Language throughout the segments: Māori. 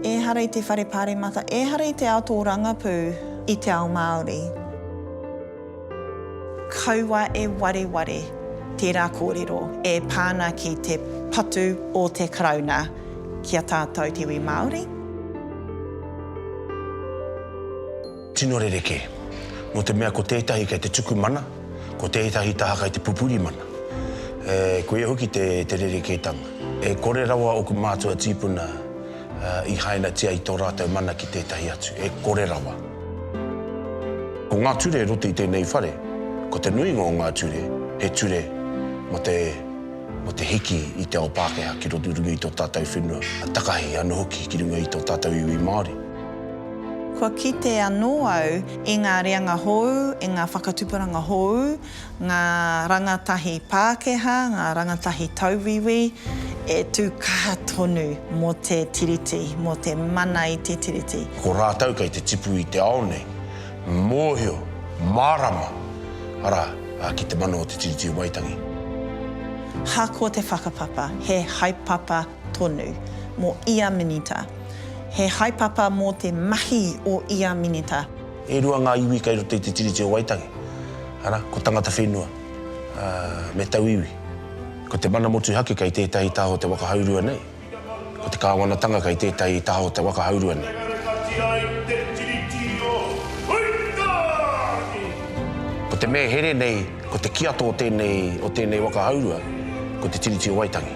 Ehara i te whare paremata, ehara i te ao tōrangapū i te ao Māori. Kaua e wareware tērā kōrero e pā ana ki te patu o te Karauna ki a tātou te iwi Māori. Tino rerekē. Nō te mea ko tētahi kei te tuku mana, ko tētahi taha kei te pupuri mana. E, koia hoki te, te rerekētanga. E kore rawa ōku mātua tīpuna i hainatia i tō rātou mana ki tētahi atu. E kore rawa. Ko ngā ture e roto i tēnei whare, ko te nuinga o ngā ture, he ture mō te, mō te hiki i te ao Pākehā ki runga i tō tātou whenua, takahi anō hoki ki runga i tō tātou iwi Māori. Kua kite anō au i ngā reanga hōu, i ngā whakatuparanga hōu, ngā rangatahi Pākehā, ngā rangatahi tauwiwi e tū kaha tonu mō te Tiriti, mō te mana i te Tiriti. Ko rātou kei te tipu i te ao nei, mōhio, mārama, arā, ki te mana o te Tiriti o Waitangi. Hako te whakapapa, he haepapa. tonu mō ia minita. He haepapa mō te mahi o ia minita. E rua ngā iwi kei roto i te Tiriti o Waitangi, arā, ko Tangata Whenua me Tauiwi. Ko te mana motuhake kei tētahi taha o te waka haurua nei. Ko te kāwanatanga kei tētahi taha o te waka haurua nei. Ko te mea here nei, ko te kiato o tēnei waka haurua, ko te Tiriti o Waitangi.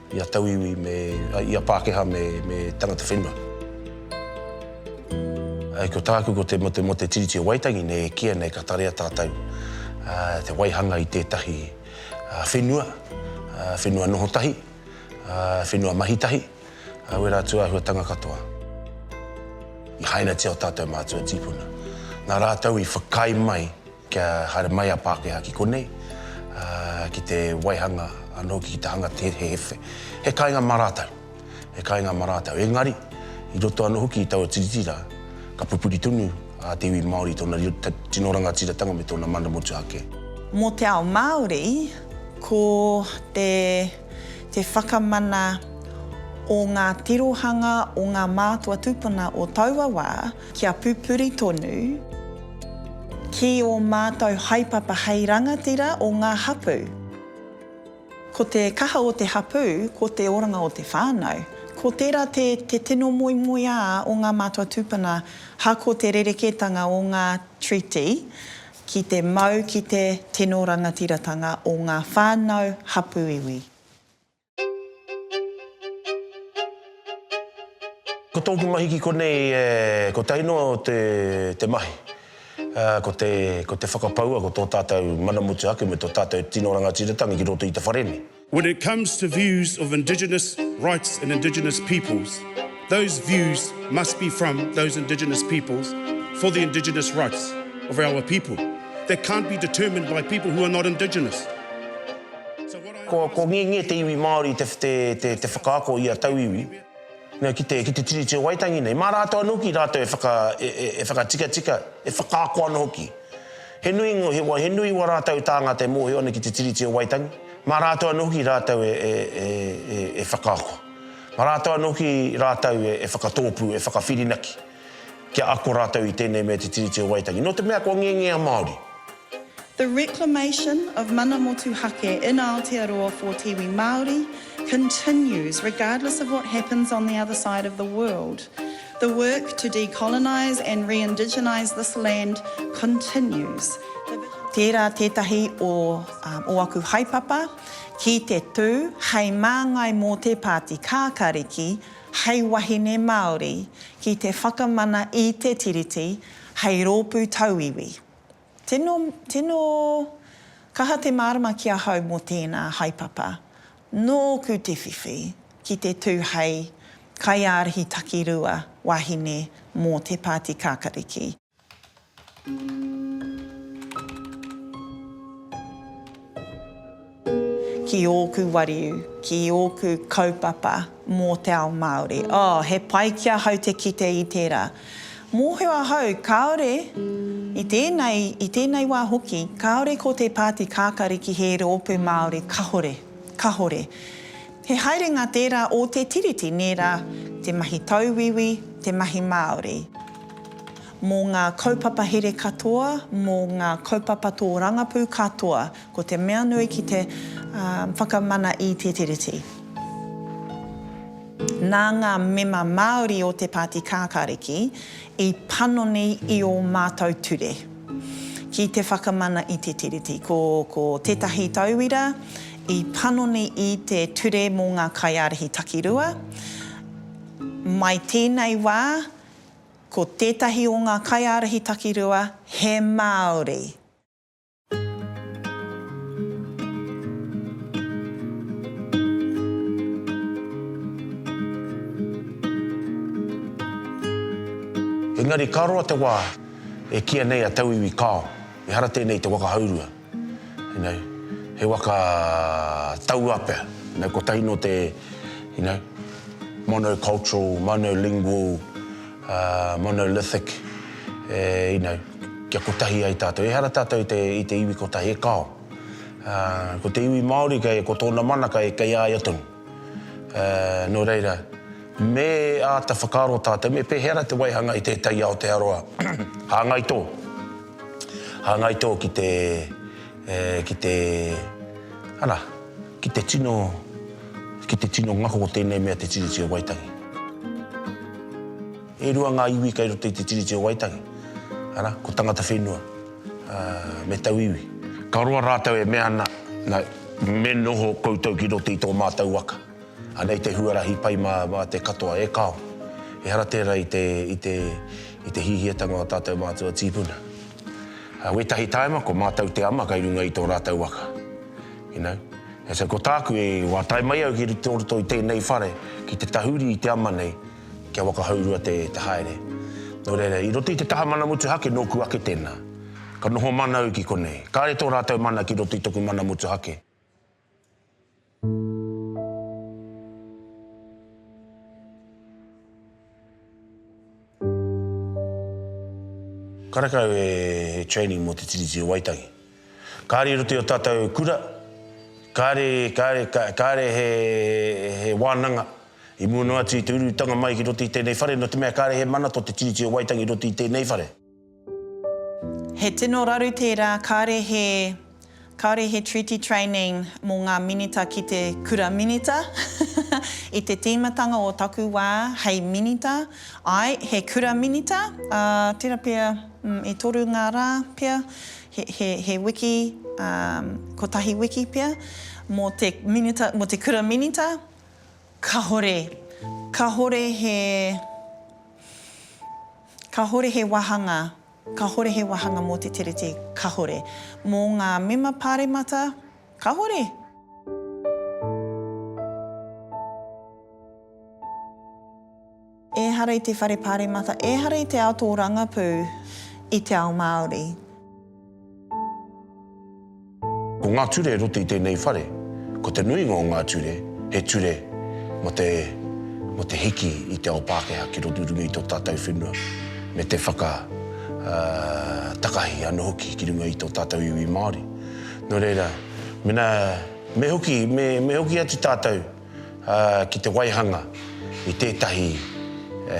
I a tauiwi me, i a Pākehā me, me tangata whenua. Ko tāku ko te motu mō te Tiriti o Waitangi nei e kīia nei ka tarea tātou te waihanga i tētahi whenua, whenua noho tahi, whenua mahi tahi, wera atu āhuatanga katoa. I hainatia o tātou mātua tīpuna. Nā rātou i whakaae mai Kia haere mai a Pākehā ki konei, ki te waihanga anō hoki ki te hanga te he he kāinga mā rātou, he kāinga mā rātou. Engari, i roto anō hoki i taua Tiriti rā, ka pupuri tonu a te iwi Māori i tōna tino rangatiratanga me tōna mana motuhake. Mō te ao Māori, ko te whakamana o ngā tirohanga o ngā mātua tūpuna o taua wā, Kia pupuri tonu ki ō mātou haepapa hei rangatira o ngā hapū. Ko te kaha o te hapū, ko te oranga o te whānau. Ko tērā te te tino moemoeā o ngā mātua tūpuna ha ko te rerekētanga o ngā treaty ki te mau ki te tino rangatiratanga o ngā whānau hapū iwi. Ko tōku mahi ki konei e kotahi noa o te te mahi. Ko te ko te whakapaua ko tō tātou mana mutu ake me tō tātou tino rangatiratanga ki roto i te whare nei. When it comes to views of indigenous rights and indigenous peoples, those views must be from those indigenous peoples for the indigenous rights of our people. That can't be determined by people who are not indigenous. Ko Ngiengie te iwi Māori te whakaako i a tauiwi ki te Tiriti o Waitangi nei. Mā rātou anō hoki rātou e whakatikatika, e whakaako ana hoki. He nui wā rātou tāngata e mōhio ana ki te Tiriti o Waitangi, mā rātou anō hoki rātou e whakaako. Mā rātou anō hoki rātou e whakatōpū, e whakawhirinaki kia ako rātou i tēnei mea te Tiriti o Waitangi. Nō te mea kua Ngiengie a Māori. The reclamation of Mana Motuhake in Aotearoa for te iwi Māori continues regardless of what happens on the other side of the world. The work to decolonise and re-indigenise this land continues. The vision to. Tērā tētahi o ō aku haepapa ki te tū hei māngai mō te Pāti Kākāriki hei wahine Māori ki te whakamana i te Tiriti hei rōpū tauiwi. Tino, tino kaha te mārama ki ahau mō tēnā haepapa. Nōku te whiwhi ki te tū hei kaiārahi takirua wahine mō te Pāti Kākariki. Ki ōku wariu, ki ōku kaupapa mō te ao Māori. Oh, he pai ki ahau te kite i tērā. Mōhio ahau, kāore, i tēnei, i tēnei wā hoki, kāore ko te Pāti Kākariki he rōpū Māori, kahore, kahore. He haerenga tērā o te Tiriti, nē rā, te mahi tauwiwi, te mahi Māori. Mō ngā kaupapa here katoa, mō ngā kaupapa tōrangapū katoa, Ko te mea nui ki te whakamana i Te Tiriti, nā ngā mema Māori o te Pāti Kākāriki i panoni i ō mātou ture ki te whakamana i Te Tiriti. Ko tētahi tauira i panoni i te Ture mō ngā Kaiārahi Takirua, mai tēnei wā ko tētahi o ngā Kaiārahi Takirua he Māori. Engari ka roa te wā e kīia nei a Tauiwi Kao, ehara tēnei te waka haurua. You know, he waka tauā pea. You know, kotahi nō te, you know, monocultural, monolingual, uh, monolithic, eh, you know, Kia kotahi ai tātou. Ehara tātou i te, i te iwi kotahi, e kao. Ā, ko te iwi Māori kei, ko tōna mana kei, kei a ia tonu. Ā, nō reira, me āta whakaaro tātou, me pēhera te waihanga i tētahi Aotearoa hāngai tō, hāngai tō ki te, e, ki te, ana, ki te tino, ki te tino ngako o tēnei mea te Tiriti o Waitangi. E rua ngā iwi kei roto i te Tiriti o Waitangi, arā, ko Tangata Whenua me Tauiwi. Ka roa rātou e mea ana, nā, me noho koutou ki roto i tō mātou waka. Anei te huarahi pai mā, mā te katoa e kao. Ehara tērā i te, i te, i te hihiatanga o ā tātou mātua tīpuna. Ā, wētahi tāima ko mātou te ama kei runga i tō rātou waka. You know? And so ko tāku e, wā tae mai au ki roto i tēnei whare, ki te tahuri i te ama nei, kia wakahaurua te haere. Nō reira, i roto i te taha mana motuhake nōku ake tēnā. Ka noho mana au ki konei. Kāre tō rātou mana ki roto i toku mana motuhake. Karekau e training mō te Tiriti o Waitangi. Kāre i roto i o tātou kura, kāre, kāre, kāre he, he wānanga i mua noa atu i te urutanga mai ki roto i tēnei whare, nō te mea kāre he mana tō te Tiriti o Waitangi i roto i tēnei whare. He tino raru tērā, kāre he, kāre he Treaty Training mō ngā Minita ki te Kura Minita, i te tīmatanga o taku wā hei Minita, āe, he Kura Minita, ā, tērā pea, i toru ngā rā pea, He wiki, kotahi wiki pea, mō te minita, mō te kura minita, kahore, kahore he, kahore he wāhanga, kahore he wāhanga mō te Tiriti, kahore. Mō ngā mema pāremata, kahore. Ehara i te whare paremata, ehara i te ao tōrangapū i te ao Māori. Ko ngā ture e roto i tēnei whare, ko te nuinga o ngā ture, he ture mō te, mō te hiki i te ao Pākehā ki roto runga i tō tātou whenua, me te whaka, ā, takahi anō hoki ki runga i tō tātou iwi Māori. Nō reira, mēnā, me hoki, me, me hoki atu tātou. ki te waihanga i tētahi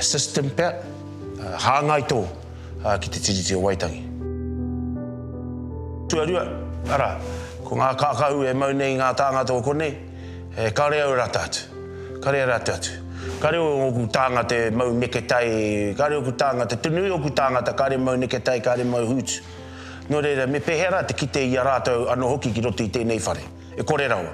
system pea, hāngai tō ki te Tiriti o Waitangi. Tuarua, arā, ko ngā kākahu e mau nei i ngā tāngata o konei, e kare au rata atu, kare au rata atu. Kare oku tāngata e mau neketai, kare oku tāngata, te nui oku tāngata kare mau neketai, kare mau hūtu. Nō reira, me pēhea rā te kite i a rātou anō hoki ki roto i tēnei whare? E kore rawa.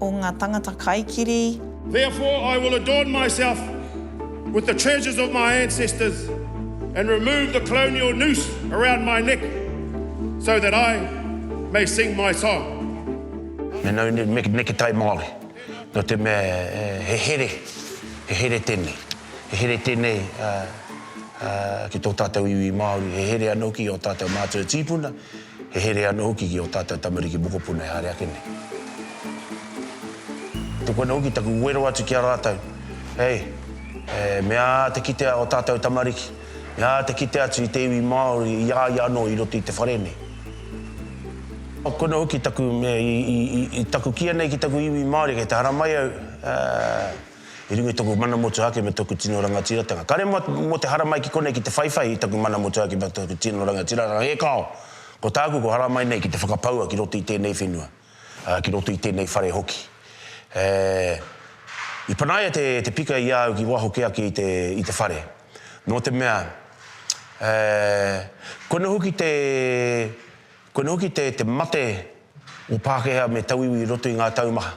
o nga tangata kaikiri. Therefore I will adorn myself with the treasures of my ancestors and remove the colonial noose around my neck so that I may sing my song. Me nau nei me neketai Māori, nō te mea he here, he here tēnei. He here tēnei ki tō tātou iwi Māori, he here anō hoki i ō tātou mātua tīpuna. He here anō hoki ki ō tātou tamariki mokopuna e haere ake nei. Tuku anō hoki taku wero atu ki a rātou, hei, e, me aha te kitea ō tātou tamariki, me aha te kite atu i te iwi Māori i a ia anō i roto i te whare nei. Tuku anō hoki taku mea i taku kīia nei ki taku iwi Māori, kei te haramai au, ā, I runga i taku mana motuhake me taku tino rangatiratanga, kare mua mō te haramai ki konei ki te whaiwhai i taku mana motuhake me taku tino rangatiratanga, e kao! Ko tāku kua haramai nei ki te whakapaua ki roto i tēnei whenua, ā, ki roto i tēnei whare hoki. E, i panaia te, te pika i a au ki waho kē ake i te, i te whare. Nō te mea, e, koe noa hoki te, koe noa hoki te, te mate o Pākehā me tauiwi i roto i ngā tau maha.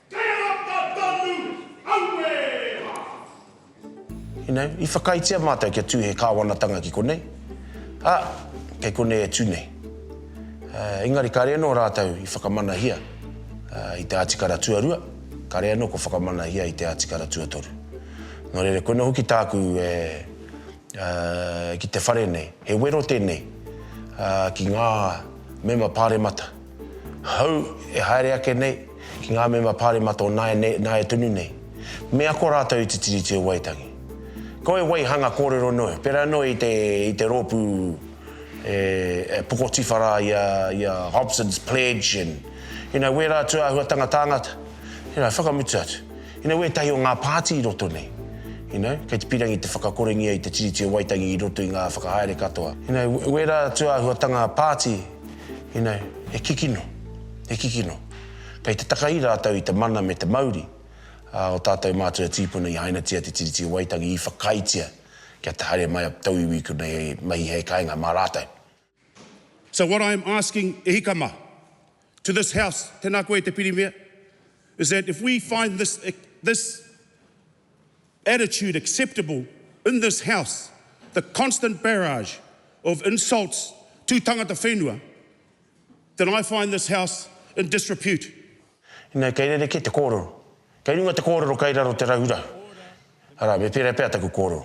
Tēnata tonu, auē rā! You know, i whakaaetia mātou kia tū he Kāwanatanga ki konei, ā, kei konei e tū nei. Engari kāre anō rātou i whakamanahia i te Atikara Tuarua, kāre anō kua whakamanahia i te Atikara Tuatoru. Nō reira, koinā hoki tāku e ki te whare nei, he wero tēnei ki ngā Mema Pāremata. Hou e haere ake nei, ki ngā mema pāremata o nāianei, nāia tonu nei, me ako rātou i te Tiriti o Waitangi. Ko wai waihanga kōrero noa, pērā noa i te, i te rōpū e, e pokotiwha rā i a, i a Hobson's Pledge and, you know, wērā atu āhuatanga tāngata, you know, whakamutu atu. You know, wētahi o ngā pāti i roto nei, you know, kei te pīrangi te whakakorengia i te Tiriti o Waitangi i roto i ngā whakahaere katoa. You know, wērā atu āhuatanga pāti, Inai, he kikino, he kikino. Kei te takahi rātou i te mana me te mauri o tātou mātua tīpuna i hainatia te Tiriti o Waitangi, i whakaaetia kia te haere mai a tauiwi ki konei hei mahi hei kāinga mā rātou. So what I am asking e hika mā, to this House, tēnā koe e te Pirimia, is that if we find this, this, attitude acceptable in this House, the constant barrage of insults to tangata whenua, then I find this House in disrepute. Inai kei rerekē te kōrero. Kei runga te kōrero kei raro te rahurahu. Arā, me pērā pea taku kōrero.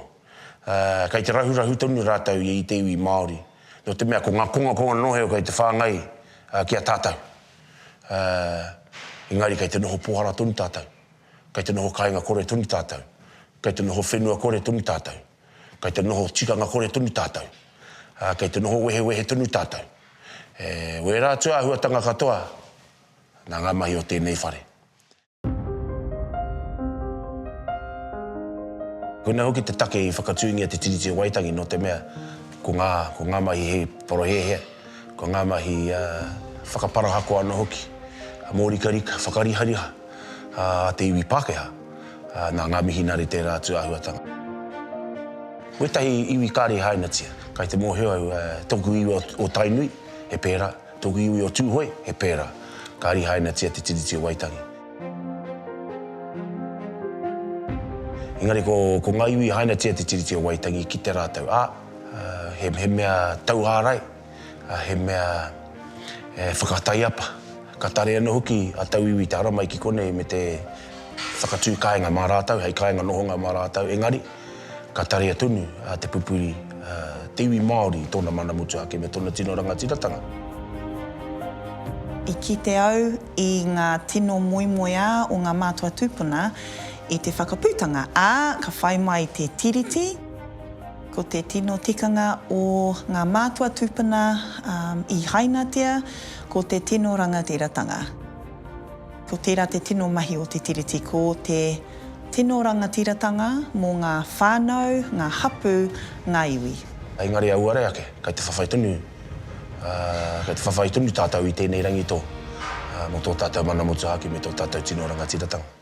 Kei te rahurahu tonu rātou i te iwi Māori, nō te mea ko ngā kongakonga noa iho kei te whāngai ki a tātou. Engari kei te noho pōhara tonu tātou. Kei te noho kāinga kore tonu tātou. Kei te noho whenua kore tonu tātou. Kei te noho tikanga kore tonu tātou. Ā, kei te noho wehewehe tonu tātou. E wērā atu āhuatanga katoa nā ngā mahi o tēnei whare. Koinā hoki te take i whakatūngia te Tiriti o Waitangi nō te mea ko ngā, ko ngā mahi he parohēhea, ko ngā mahi whakaparahako anō hoki, mōrikarika, whakarihariha. a te iwi Pākehā. Nā ngā mihinare tērā atu āhuatanga. Ko ētahi iwi kāre i hainatia, kai te mōhio au, tōku iwi o Tainui, he pērā, tōku iwi o Tūhoe, he pērā, kāre i hainatia Te Tiriti o Waitangi. Engari ko ngā iwi i hainatia Te Tiriti o Waitangi, kite rātou, ā, he mea tauārai, he mea e whakataiapa, ka tare anō hoki a Tauiwi te haramai ki konei me te whakatū kāinga mā rātou, hei kāinga nohonga mā rātou, engari ka tarea tonu te pupuri, te iwi Māori i tōna mana mutu ake me tōna tino rangatiratanga. I kite au i ngā tino moemoeā o ngā mātua tūpuna i te whakaputanga, ā, ka whai mai te tiriti. Ko te tino tikanga o ngā mātua tūpuna i hainatia, ko te tino rangatiratanga. Ko tērā te tino mahi o te Tiriti, ko te tino rangatiratanga mō ngā whānau, ngā hapū, ngā iwi. Engari auare ake, kei te whawhai tonu, kei te whawhai tonu tātou i tēnei rangi tō, mō tō tātou mana motuhake me tō tātou tino rangatiratanga.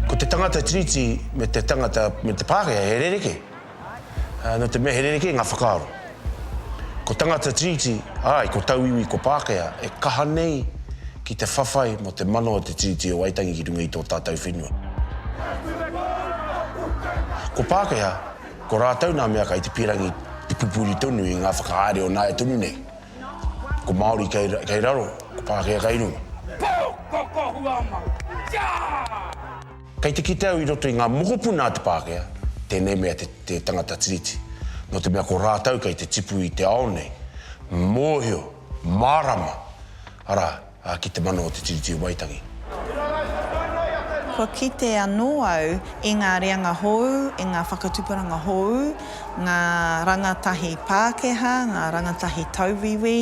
Ko te tangata Tiriti me te tangata me te Pākehā he rerekē. No te mea he rerekē ngā whakaaro. Ko tangata Tiriti, āe, ko tauiwi, ko Pākehā, e kaha nei ki te whawhai mō te mana o te Tiriti o Waitangi ki runga i tō tātou whenua. Ko Pākehā, ko rātou nā mea kai te pīrangi te pupuri tonu i ngā whakahaere o nāia tonu nei. Ko Māori kai raro, ko Pākehā kai runga. Pō! Ko Kohuama! Tiaa! Kei te kite au i roto i ngā mokopuna a te Pākehā, tēnei mea te tangata Tiriti, nō te mea ko rātou kei te tipu i te ao nei, mōhio, mārama, arā, ki te mana o te Tiriti o Waitangi. Kua kite anō au i ngā reanga hōu, i ngā whakatuparanga hōu, ngā rangatahi Pākehā, ngā rangatahi tauwiwi,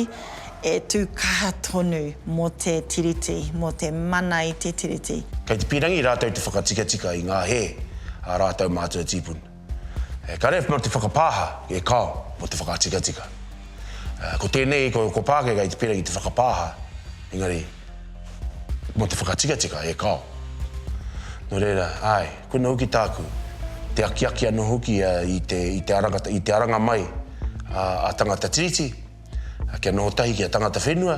E tū kaha tonu mō te Tiriti, mō te mana i te Tiriti. Kei te pīrangi rātou te whakatikatika i ngā hē a rātou mātua tīpuna. E kare mā te whakapāha, e kao, mō te whakatikatika. Ko tēnei, ko Pākehā i te pīrangi te whakapāha, engari, mō te whakatikatika, e kao. Nō reira, āe, koinā hoki tāku, te akiaki anō hoki i te aranga mai a tangata Tiriti, kia noho tahi ki a tangata whenua,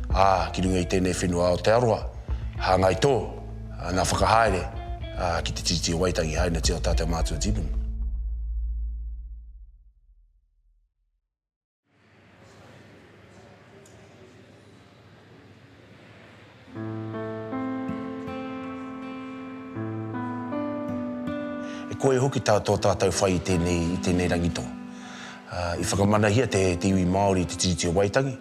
ā, ki runga i tēnei whenua o Aotearoa, hāngai tō, ā, ngā whakahaere, ā, ki te Tiriti o Waitangi, hainatia o tātou mātua Jeevan. E kore hoki tā tō tātou whai i tēnei, i tēnei rangi toa. I whakamanahia te iwi Māori i te Tiriti o Waitangi,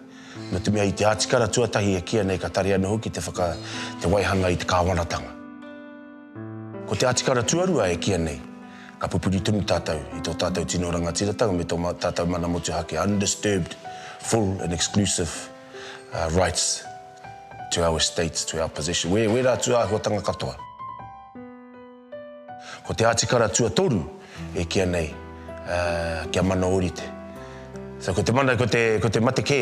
nō te mea i te atikara tuatahi e kīa nei ka tari anō hoki te whaka, te waihanga i te kāwanatanga. Ko te atikara tuarua e kīa nei, ka pupuri tonu tātou i tō tātou tino rangatiratanga me tō tātou mana motuhake, undisturbed, full and exclusive. rights to our estates, to our possession. Wē, wērā atu āhuatanga katoa. Ko te Atikara Tuatoru e kīa nei kia mana ōrite. So ko te mana, ko te, ko te mate kē,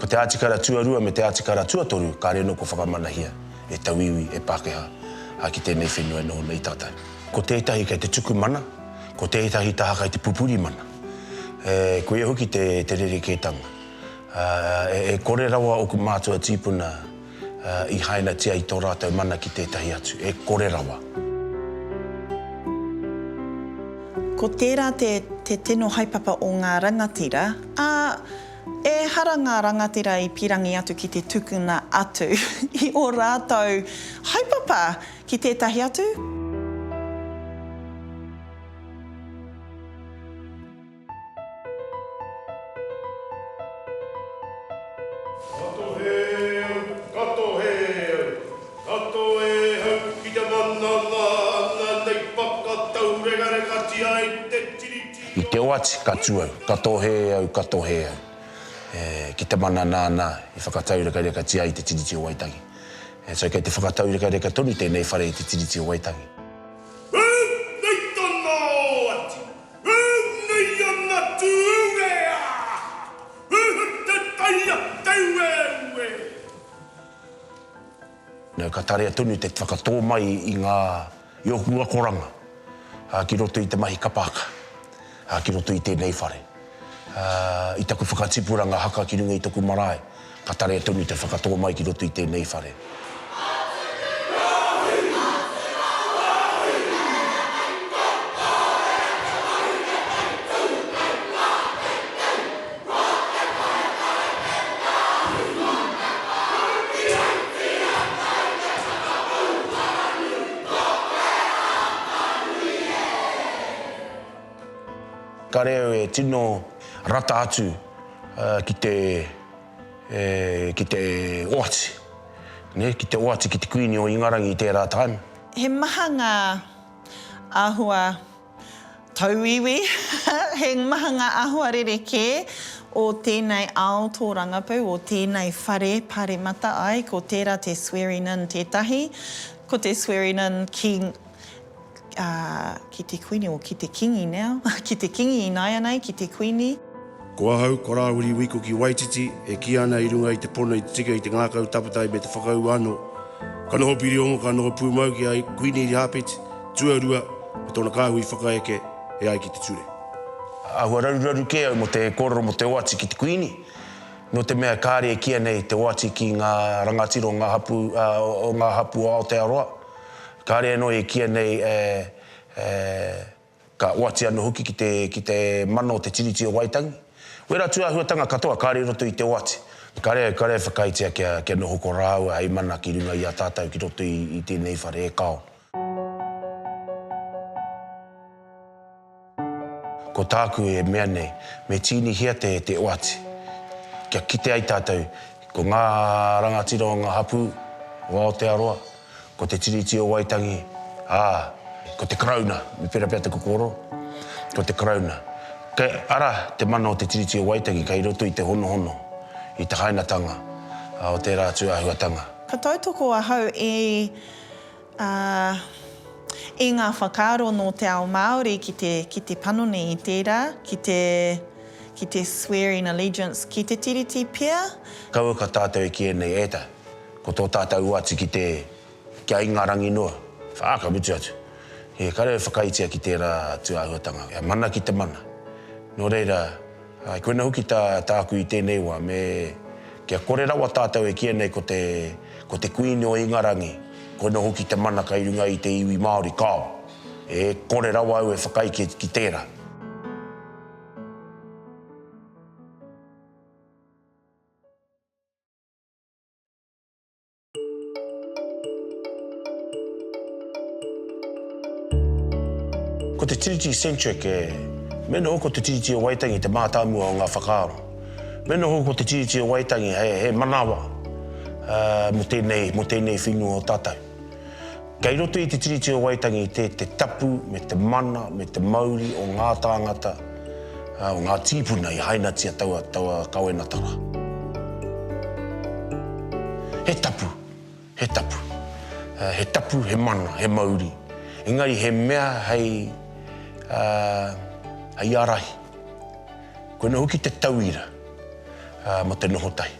ko te Atikara Tuarua me te Atikara Tuatoru ka rēnoko whakamanahia e tauiwi, e Pākehā, ā, ki tēnei whenua e noho nei tātou. Ko tētahi kei te tuku mana, ko tētahi taha kei te pupuri mana. E, koia hoki te, te rerekētanga. E kore rawa oku mātua tīpuna i hainatia i tō rātou mana ki tētahi atu, e kore rawa. Ko tērā te tino haepapa o ngā rangatira, ā, ehara ngā rangatira i pīrangi atu ki te tukuna atu i ō rātou haepapa ki tētahi atu. Kato he au, kato he au, kato e au ki te mana ngā anga nei whakataurengarengatia e te Tiriti o. I te oati ka tu au, kato he au, kato he au, e, ki te mana nāna i whakataurekarekatia ai te Tiriti o Waitangi. E, so kei te whakataurekareka tonu tēnei whare i te Tiriti o Waitangi. Hū! Nei tana oati! Ū nei a Ngatu Uwe a! Uhu te tai a Taueue! Nō ka tarea tonu te whakatō mai i ngā, i ōku akoranga ki roto i te mahi kapa haka, ki roto i tēnei whare, i taku whakatipuranga haka ki runga i taku marae. Ka tare tonu te whakatō mai ki roto i tēnei whare. Ka reo e tino rata atu. ki te, e, ki te oati, nē, ki te oati ki te Kuini o Ingarangi i tērā taim. He maha ngā āhua tauiwi, he maha ngā āhua rerekē o tēnei ao tōrangapū, o tēnei whare paremata, āe, ko tērā te swearing-in tētahi, ko te swearing-in ki, ā, ki te kuini, o, ki te kingi now, ki te kingi ināianei, ki te kuini. Ko ahau, ko Rāwiri Wikoki Waititi, e kī ana i runga i te pono i te tika i te ngākau tapatai me te whakaū anō, ka noho pirio-ongo, ka noho pūmau ki a Kuini Irihaapeti, tuarua, me tōna kāhui whakaeke e ai ki te ture. Āhua raruraru kē au mō te kōrero mō te oati ki te kuini, nō te mea kāre e kīa nei te oati ki ngā rangatira o ngā hapū, ā, o ngā hapū o Aotearoa, Kāre anō e kīia nei e, e, ka oati anō hoki ki te, ki te mana o te Tiriti o Waitangi. Wērā tūāhuatanga katoa kāre i roto i te oati. Kāre, kāre e whakaaetia kia, kia noho ko rāua hei mana ki runga i a tātau ki roto i, i tēnei whare e kao. Ko tāku e mea nei, me tīnihia te te oati, kia kite ai tātou, ko ngā rangatira o ngā hapū o Aotearoa, ko te Tiriti o Waitangi, ā, ko te Karauna, me pērā pea te kokoro, ko te Karauna. Kei ara te mana o te Tiriti o Waitangi kei roto i te honohono, i te hainatanga o tērā atu āhuatanga. Ka tautoko ahau e. ā, i ngā whakaaro nō te ao Māori ki te, ki te panoni i tērā, ki te, ki te swear in allegiance ki te Tiriti pea. Kaua ka tātou e kīia nei, e ta, ko tō tātou uati ki te, kia Ingarangi noa, ā, ka mutu atu, he kare e whakaitia ki tērā atu āhuatanga, kia mana ki te mana. Nō reira. Ā, koina hoki tā, tāku i tēnei wā, me, kia kore rawa tātou e kīa nei ko te, ko te Kuini o Ingarangi, koina hoki te mana kai runga i te iwi Māori, kāo. E kore rawa au e whakai ki, ki tērā. Ko te Tiriti Centric e. Me noho ko te Tiriti o Waitangi te mātāmua o ngā whakaaro. Me noho ko te Tiriti o Waitangi he manawa mō tēnei whenua o tātou. Kei roto i te Tiriti o Waitangi i te te tapu me te mana me te mauri o ngā tāngata, o ngā tīpuna i hainatia taua taua kawenatanga. He tapu, he tapu, he tapu, he mana, he mauri, engari he mea hei, hei ārahi. Koinā hoki te tauira mō te noho tahi.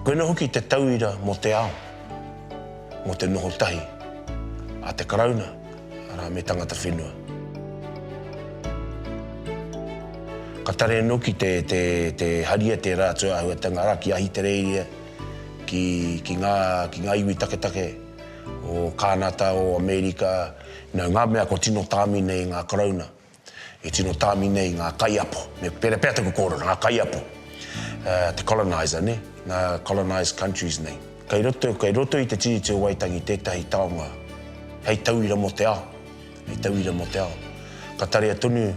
Koina hoki te tauira mō te ao, mō te noho tahi a te Karauna, arā, me tangata whenua. Ka tare noki te, te, te haria tērā atu āhuatanga, arā, ki Ahitereiria, ki, ki, ngā, ki ngā iwi taketake o Kānata, o Amerika, nā, ngā mea kua tino tāmi nei ngā Karauna. E tino tāmi nei ngā kaiapo, me pērā pea taku kōrero, ngā kaiapo, uh, te colonizer, ne? ngā colonised countries nei. Kei roto, kei roto i te Tiriti o Waitangi tētahi taonga hei tauira mō te ao, hei tauira mō te ao. Ka tarea tonu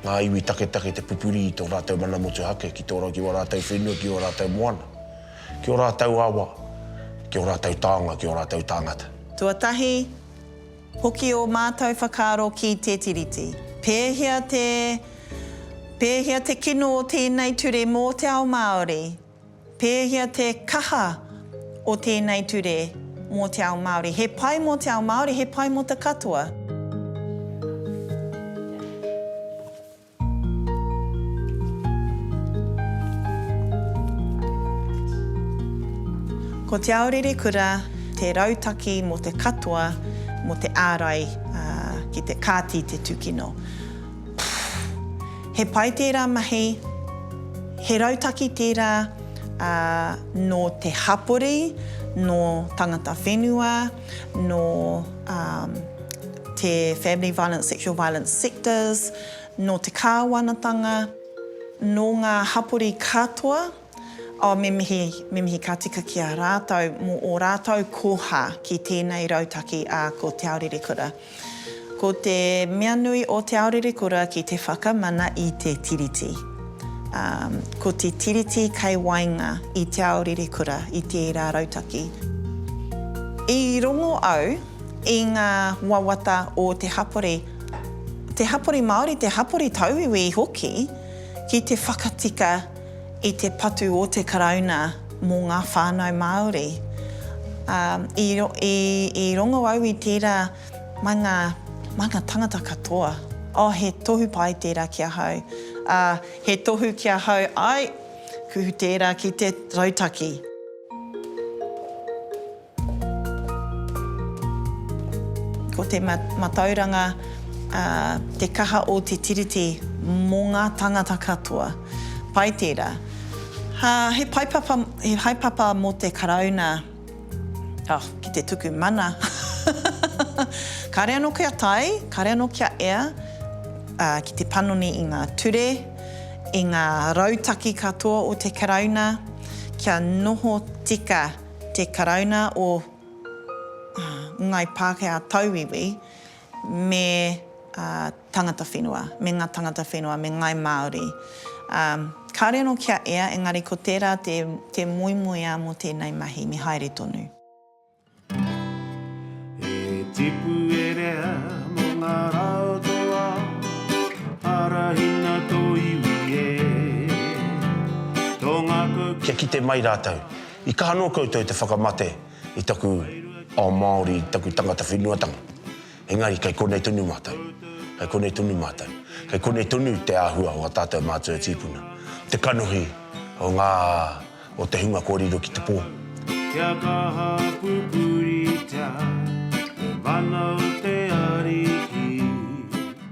ngā iwi taketake te pupuri i tō rātou mana motuhake ki tō, ki wā rātou whenua, ki wā rātou moana, ki ō rātou awa, ki ō rātou taonga, ki ō rātou tāngata. Tuatahi, Hoki ō mātou whakaaro ki te Tiriti. Pēhea te, pēhea te kino o tēnei ture mō te ao Māori? Pēhea te kaha o tēnei ture mō te ao Māori? He pai mō te ao Māori, he pai mō te katoa. Ko Te Ao Rere Kura te rautaki mō te katoa mō te ārai ki te kāti te tūkino. He pai tērā mahi, he rautaki tērā nō te hapori, nō tangata whenua, nō te family violence, sexual violence sectors, nō te kāwanatanga, nō ngā hapori katoa, oh, me mihi, me mihi ka tika ki a rātou mō ō rātou koha ki tēnei rautaki a ko Te Aorerekura. Ko te mea nui o Te Aorerekura ki te whakamana i te Tiriti. Um, ko te Tiriti kei waenga i Te Aorerekura i tērā rautaki. I rongo au, i ngā wawata o te hapori, te hapori Māori, te hapori tauiwi hoki, ki te whakatika i te patu o te Karauna mō ngā whānau Māori. I rongo au i tērā mai ngā manga tangata katoa, oh, he tohu pai tērā ki ahau, he tohu ki ahau, āe, kuhu tērā ki te rautaki. Ko te matauranga te kaha o te Tiriti mō ngā tangata katoa. Pai tērā. He paepapa, he haepapa mō te Karauna, oh, ki te tuku mana. Kāre anō kia tae, kāre anō kia ea ki te panoni i ngā ture, i ngā rautaki katoa o te Karauna, kia noho tika. te Karauna o Ngai Pākehā Tauiwi me tangata whenua, me ngā tangata whenua, me Ngai Māori. Kāore anō kia ea, engari ko tērā te moemoeā mō tēnei mahi, me haere tonu. He tipu e rea mō ngā rā o tō ao, arahina tō iwi e, tō ngākau. Kia kite mai rātou. I kaha noa koutou te whakamate i taku ao Māori, i taku tangata whenuatanga. Engari kei konei tonu mātou. Kei konei tonu mātou. Kei konei tonu te āhua o a tātou mātua tīpuna. Te kanohi o ngā, o te hunga kua riro ki te pō. Kia kaha pupuritia te mana o te Ariki.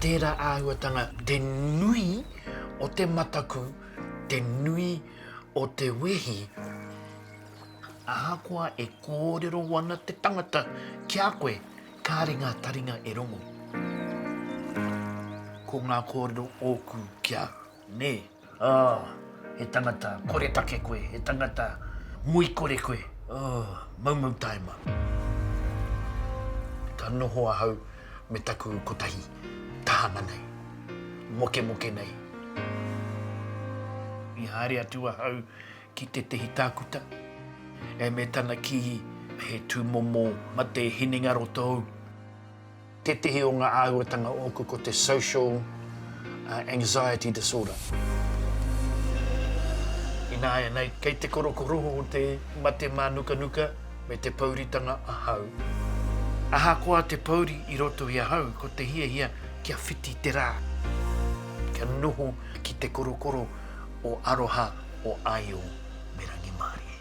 Tērā āhuatanga te nui o te mataku, te nui o te wehi, ahakoa e kōrero ana te tangata ki a koe, kāre ngā taringa e rongo. Ko ngā kōrero ōku ki a au. Nē, oh, he tangata koretake koe, he tangata muikore koe, oh, maumau taima. Ka noho ahau me taku kotahi tahana nei, mokemoke nei. I haere atu ahau ki tētehi tākuta, e me tana kī, He tūmomo mate hinengaro tōu. Tētehi o ngā āhuatanga ōku ko te social anxiety disorder. Ināianei, kei te korokoroho o te mate mānukanuka me te pouritanga ahau. Ahakoa te pouri i roto i ahau, ko te hiahia kia whiti te rā, kia noho ki te korokoro o aroha o Aio me Rangimārie.